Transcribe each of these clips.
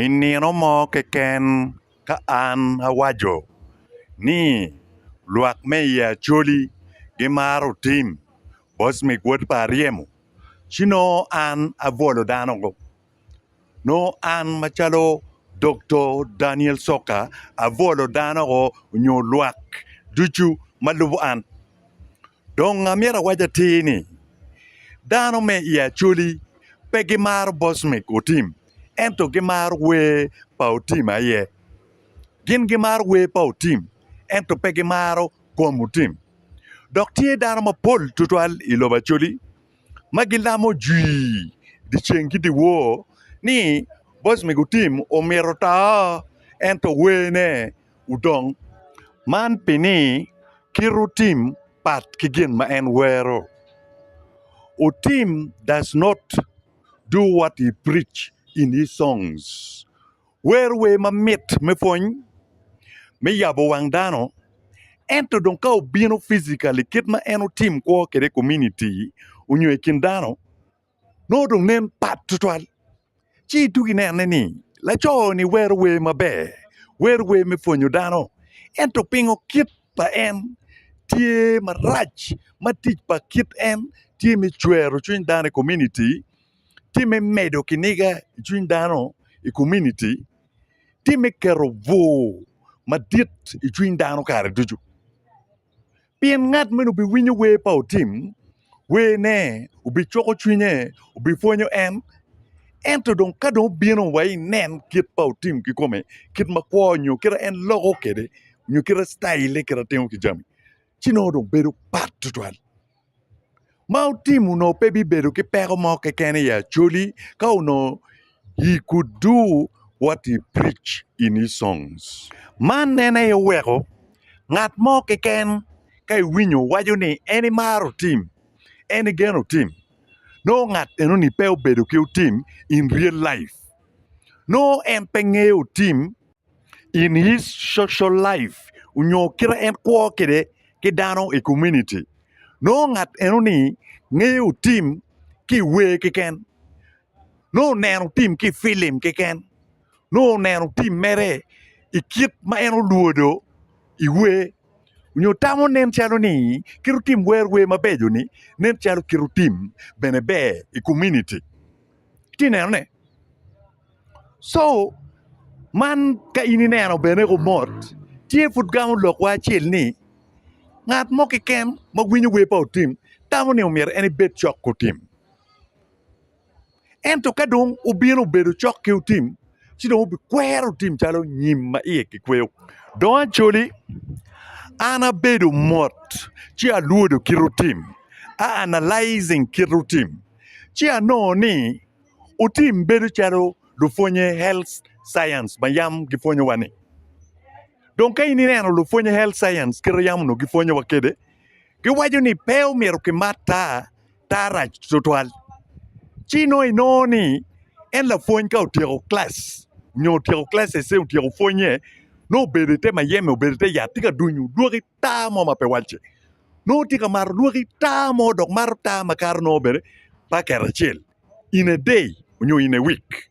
I nino mo keken ka an awaco ni lwak me i Acholi gimaro tim bot mig wot pa Aryemo ci nongo an abwolo dano go nongo an macalo Dokto Daniel Coka abwolo dano go nyo lwak ducu ma lubo an. Dong amyero awac atir ni, dano me i Acholi pe gimaro Bosmic Otim ento gimaro wer pa Otim aye. Gin gimaro wer pa Otim ento pe gimaro kom Otim. Dok tye dano mapol twatwal i lobo Acholi ma gilamo jwii dyeceng ki dyewor ni Bosmic Otim omyero oto ento werne Udong. Man pi ni kit utim pat ki gin ma en wero. Utim does not do what he preach in his songs. Wero wer ma mit me pwony, me yabo wang dano, ento dong ka obino physically kit ma en utim kwo kede i komuniti onyo i kin dano, nongo dong nen pat tutwal ci itugo inene ni laco-ni wero wer maber, wero wer me pwonyo dano ento pingo kit pa en tye marac ma tic pa kit en tye me cwero cwiny dano i kominiti, tye me medo kiniga i cwiny dano i kominiti, tye me keto bur madit i cwiny dano kare ducu. Pien ngat meno biwinyo wer pa otim, werne obicuko cwinye, obipwonyo en. Ento dong ka dong obino wa inen kit pa otim kikome, kit ma kwo nyo kite en loko kwede, nyo kite citaille kite timo ki jami, ci nongo dong bedo pat tutwal. ma otim onongo pe bibedo ki peko mo keken i Acholi ka onongo he could do what he preach in his songs. Man en aye oweko ngat mo keken ka iwinyo waco ni en imaro otim, en igeno otim, nongo ngat enoni pe obedo ki otim in real life. Nongo en pe ngeyo otim in his social life onyo kite en kwo kede ki dano i komuniti nongo ngat eno ni ngeyo tim ki i wer keken nongo oneno tim ki i pilim keken nongo oneno tim mere i kit ma en olwodo i wer onyo tamo nen calo ni kit otim wero wer mabeco ni nen calo kit otim bene ber i komuniti. Itye ka nenone? Co man ka in ineno bene i kom mot tye pud gamo lokwa acel ni ngat mo keken ma winyo wer pa otim tamo ni myero en ebed cok ki otim ento ka dong obino obedo cok ki otim ci dong obikwero otim calo nyim ma iye kikweyo dong acoli an abedo mot ci alwodo kit otim a analyzing kit otim. ci anongo ni otim bedo calo lupwonye health science ma yam gipwonyowa ni. Dong ka in ineno lupwonye health science kite yam onongo gipwonyowa kede, giwaco ni pe omyero kimat taa, taa rac twatwal. Ci nongo inongo ni en lapwony ka otyeko kilac nyo otyeko kilacece otyeko pwonye nongo obedo ite mayeme obedo ite yat tye ka dunyo dwoki taa mo ma pe walce nongo tye ka mato lwaki taa mo dok mato taa ma kato nongo bene pa kare acel in a day nyo in a week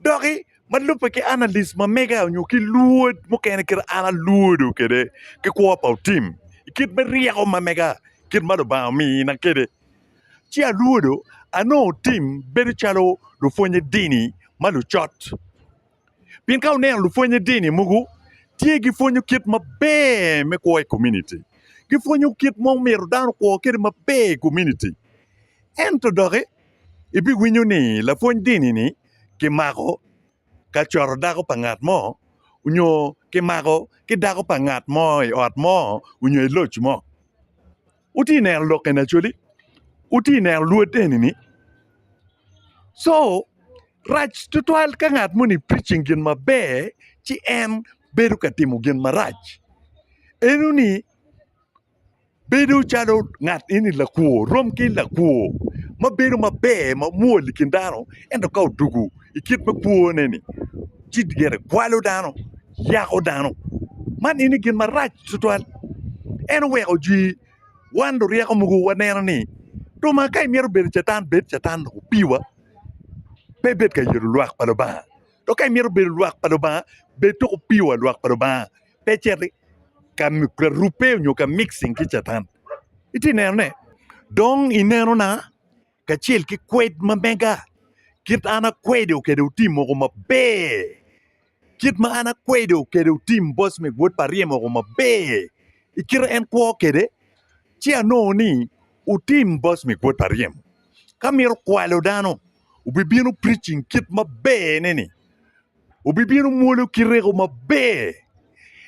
doki ma lubbe ki analyst ma mega nyo ki lwod mukene kite an alwodo kwede ki kwo pa otim i kit me ryeko ma mega kit ma Lubanga omina kwede ci alwodo anongo otim bedo calo lupwonye dini ma lucot pien ka wuneno lupwonye dini mogo tye gipwonyo kit maber me kwo i komuniti gipwonyo kit ma myero dano okwo kwede maber i komuniti ento doki ibiwinyo ni lapwony dini-ni kimako ka coro dako pa ngat mo nyo kimako ki dako pa ngat mo i ot mo nyo i loc mo. Wutye ka neno lok eni Acholi? Wutye ka neno luot eni? Co rac tutwal ka ngat moni preaching gin maber ci en bedo ka timo gin marac. Eno ni bedo calo ngat eni lakwor rom ki lakwor ma bedo maber mamwol i kin dano ento ka odwogo i kit me kwone ni ci gire kwalo dano. yako dano. Man eni gin marac tutwal. En oweko jwi wan luryeko mogo waneno ni ruma ka imyero bedo catan bed catan dok opiwa pe ibed ka yero lwak pa Lubanga dok ka imyero bedo lwak pa Lubanga bed dok opiwa lwak pa Lubanga pe icit ka rubbe nyo ka mixing ki catan. Iti neno ne? Dong inenona? kacel ki kwed ma mega, kit ma an akwedo kwede otim woko maber, kit ma an akwedo kwede otim boc me gwod pa ryem woko maber, i kite en kwo kwede, ci anongo ni otim boc me gwod pa ryem, ka mito kwalo dano, obibino preaching kit maber-re ni, obibino mwolo kite-reko maber,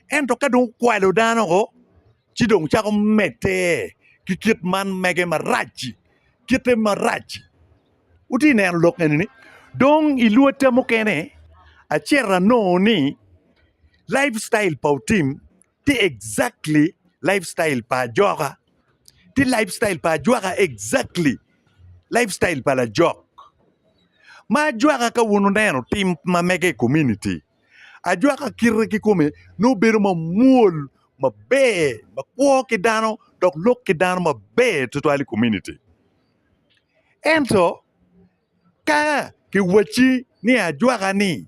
ento ka dong okwalo dano woko. ci dong cako medde ki kit man mege marac-ci, kite marac-ci. Wutye ka neno lok eni-ni? Dong i lwotta mukene, acito anongo ni life style pa Otim tye exactly life style pa Ajoka, ci life style pa Ajwaka tye exactly life style pa Lajok. Ma Ajwaka ka wun wuneno tim ma mege i komuniti, Ajwaka kite kikome nongo bedo mamwol, maber, makwo ki dano dok lok ki dano maber twatwal i komuniti. Ento ka kiwacci ni ajwaka-ni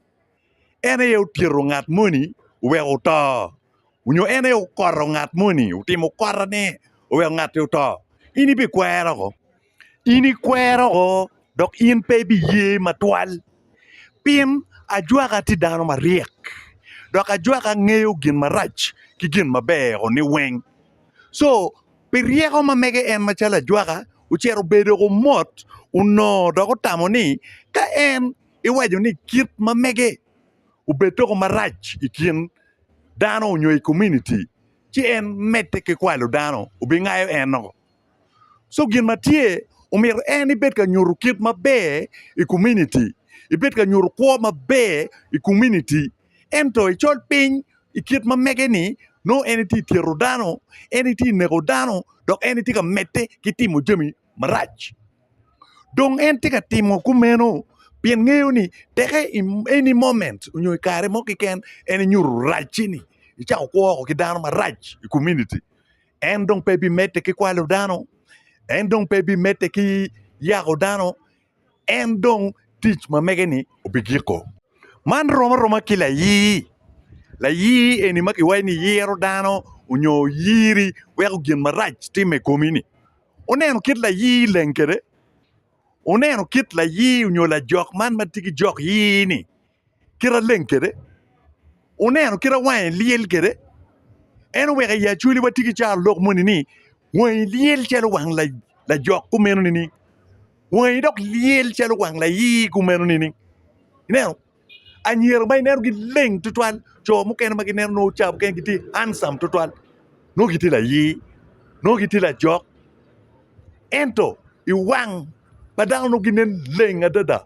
en aye otyeto ngat moni oweko oto onyo en aye okoto ngat moni otimo kotone oweko ngat-ti oto, in ibikwere oko? in ikwero o dok in pe ibiye matwal, pien ajwaka tye dano maryek dok ajwaka ngeyo gin marac ki gin maber-ro ni weng. Co pi ryeko ma mege en macalo ajwaka ocito obedo dok omot onongo dok otamo ni ka en iwaco ni kit ma mege obed doko marac i kin dano nyo i kominiti ci en medde ki kwalo dano obingayo en-o. So gin ma tye omyero en ibed ka nyuto kit maber i komuniti, ibed ka nyuto kwo maber i komuniti ento icol piny i kit ma mege-ni nongo en itye ka tyeto dano, en itye ka neko dano dok en itye ka medde ki timo jami marac. Dong en tye ka timo kumeno pien ngeyo ni teke i eni moment nyo i kare mo keken en inyuto racci-ni icako kwo woko ki dano marac i komuniti. en dong pe bimedde ki kwalo dano, en dong pe bimedde ki yako dano, en dong tic ma mege-ni obigiko. Man rom aroma ki layii. Layii eni ma kiwaco ni yiro dano nyo oyiri weko gin marac timme i komi-ni. Wuneno kit layii leng kwede? Wuneno kit layii nyo lajok man ma tye ki jok yii-ni? kit aleng kede, oneno kit awange lyel kede, en oweko i acwali watye ki caro lok moni ni wangi lyel calo wang lajok kumeno nining? Wangi dok lyel calo wang layii kumeno nining? Ineno anyira ma ineno gileng tutwal co mukene ma gineno nongo ca mukene gitye handsome tutwal nongo gitye layii nongo gitye lajok ento i wang pa dano nongo ginen leng adada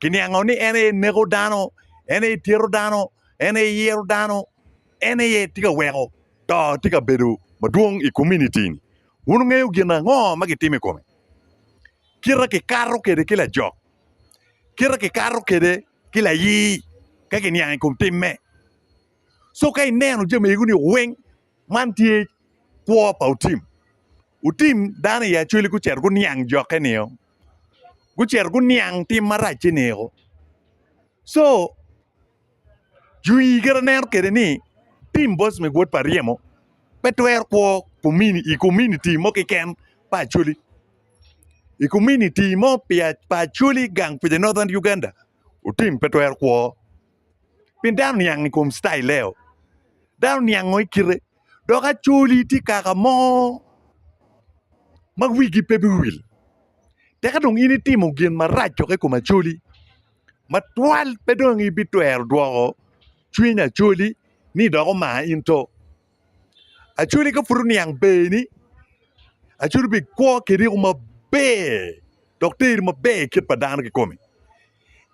kiniango ni en aye neko dano, en aye tyeto dano, en aye yero dano, en aye tye ka weko to tye ka bedo madwong i komunitini. Wun wungeyo gin ango ma gitimo i kome? Kite kikato kwede ki lajok, kite kikato kwede ki layii ka kiniang i kom timme. Co ka ineno jami egoni weng Man tye kwo pa otim, otim dano i acwali gucito guniang jokke nio gucito guniang tim maracce nio co jwii kit ma aneno kwede ni tim boc me gwot pa ryemo pe twero kwo i komuniti mo keken pa acwali i komuniti mo pa acwali gang kwija Northern Uganda otim pe twero kwo. pien dano niang i kom citaileo, dano niango i kite dok acoli tye kaka mo ma wigi pe biwil tek ka dong in itimo gin marac dok i kom acoli ma twal pe dong ibitwero dwoko cwiny acoli ni dok omar in to. Acwali ka pud oniang berni acwali bi kwo ki riko maber dok teri maber kit pa dano kikomi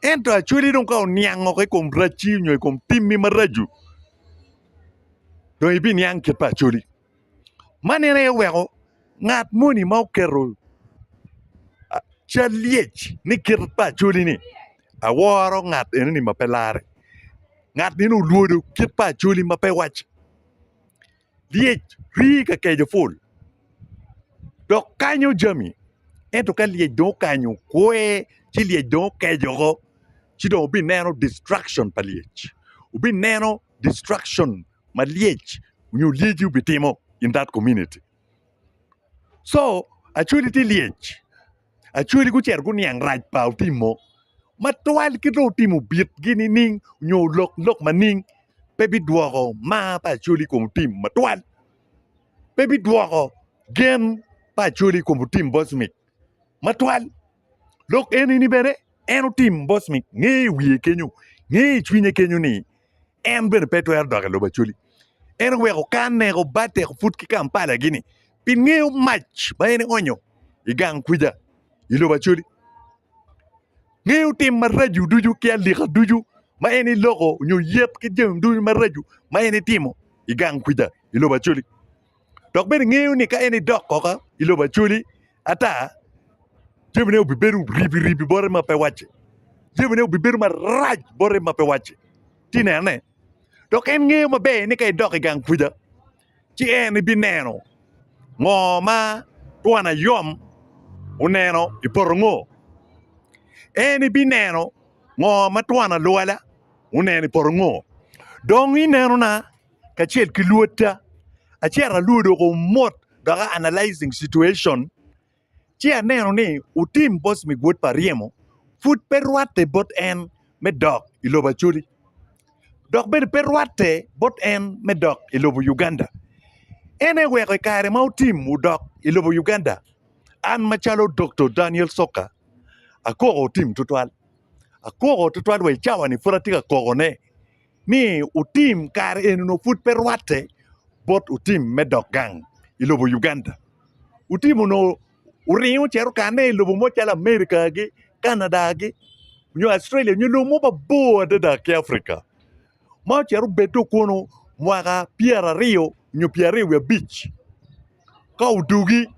ento acwali dong ka oniang woko i kom racci nyo i kom timmi maraco dong ibiniang kit pa acwali man en aye oweko ngat moni ma oketo cal lyec ni kit pa acwali ni aworo ngat enoni ma pe lare ngat meno olwodo kit pa acholi ma pe wac lyec rii ka keco pul dok kanyo jami ento ka lyec dong okanyo kwe ci lyec dong okeco oko ci dong wubineno distruction pa lyec wubineno distruction ma lyec nyo lyeci obitimo in that community. co acwali tye lyec acwali gucito guniang rac pa otim mo matwal ki dong otim obitgi nining nyo olok lok maning pe bidwoko mar pa acwali i kom otim matwal pe bidwoko gen pa acwali i kom otim bocmic matwal. Lok enini bene en otim bot ni nge i wiye kenyo, nge i cwinye kenyo ni en bene pe twero dok i lobo Acholi. En oweko kanne obate put ki Kampala gini pi ngeyo mac ma en ionyo i gang kwica i lobo Acholi. Ngeyo tim maraco ducu ki alika ducu ma en iloko nyo yet ki jami ducu maraco ma en itimo i gang kwica i lobo Acholi. dok bene ngeyo ni ka en edok koka i lobo Acholi ata jamine obibedo ribi ribi bote ma pe wacce jamine obibedo marac bote ma pe wacce ci inene dok en ngeyo maber ni ka edok i gang kwija ci en ebineno ngo ma twon ayom oneno i poto ngo en ebineno ngo ma twon alwala oneno i poto ngo dong ineno na kacel ki lwotta acito alwodo ko mot dok a analysing situation ci aneno ni otim boss me gwod pa ryemo pud pe rwatte bot en me dok i lobo Acholi dok bene pe rwatte bot en me dok i lobo Uganda en aye oweko i kare ma otim odok i lobo Uganda an macalo Doktor Daniel Soka akoko otim tutwal akoko tutwal wa i cawa-ni pud atye ka kokone. ni otim kare eni onongo pud pe rwatte bot otim me dok gang i lobo Uganda. Otim onongo oringo ce okane i lobo mo calo America gi Canada gi nyo Australia nyo lobo mo mabor adada ki Africa ma ocito obed dong kunu mwaka pyeraryo nyo pyeraryo wiye abic ka odugi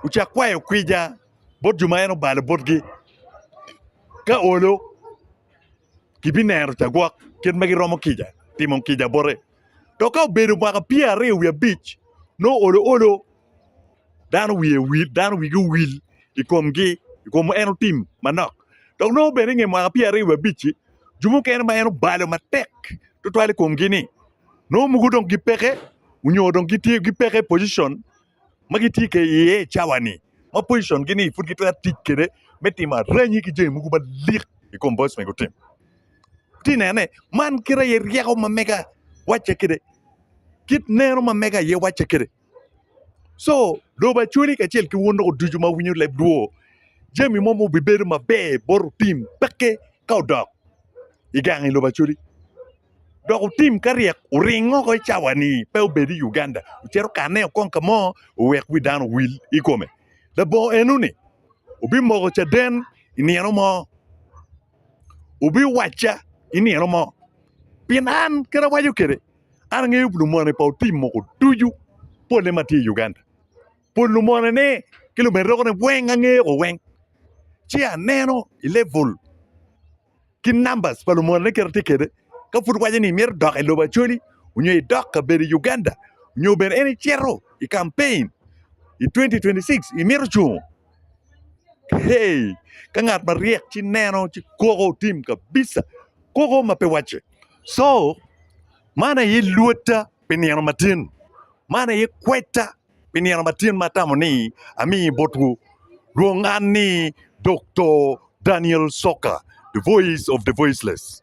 ocako kwayo kwica bot jo ma en obalo botgi ka olo. kibineno cagwok kit ma giromo kica timo kica bote dok ka obedo mwaka pyeraryo wiye abic nongo olo olo dano wiye wil dano wigi owil i komgi i kom en otim manok dok nongo bene inge mwaka pyeraryo wiye abic-ci jo mukene ma en obalo matek tutwal i komgi-ni nongo mogo dong gipeke onyo dong gitye gipeke i pocition ma gitye kede iye i cawa-ni ma pocicongi-ni pud gitwero tic kede me timo aranyi ki jami mogo malik i kom bot ma gutimo. Itye neno ni man kit aye ryeko ma mega wacce kede, kit neno ma mega aye wacce kede. Co dobo acwali kacel ki wun loko ducu ma wunywinyo lebdwo, jami mo ma obibedo maber bot otim pekke ka odok i gang i lobo acwali. dok otim ka ryek oring oko i cawa ni pe obed i Uganda ocit okane o kong ka mo owek wi dano owil i kome labongo eno ni obi moko caden i nino mo obi wacca i nino mo pien an kit awaco kede an angeyo lumone pa otim moko ducu pole ma tye i Uganda pol lumone ne ki lumeroke ne weng angeyo ko weng ci aneno i level ki numbers pa lumal ne kite tye kede ka pud waco ni mito dok ilobo Acholi nyo idok kabedo i Uganda nyo bene en icito i campaign i 2026 imito cungo hey ka ngat maryek ci neno ci koko tim kabisa koko ma pe wacce so man aye lwotta pi nino matin man aye kwetta Pi nino ma tyen ma atamo ni ami botwu, lwong an ni Doktor Daniel Soka, The Voice of the Voiceless.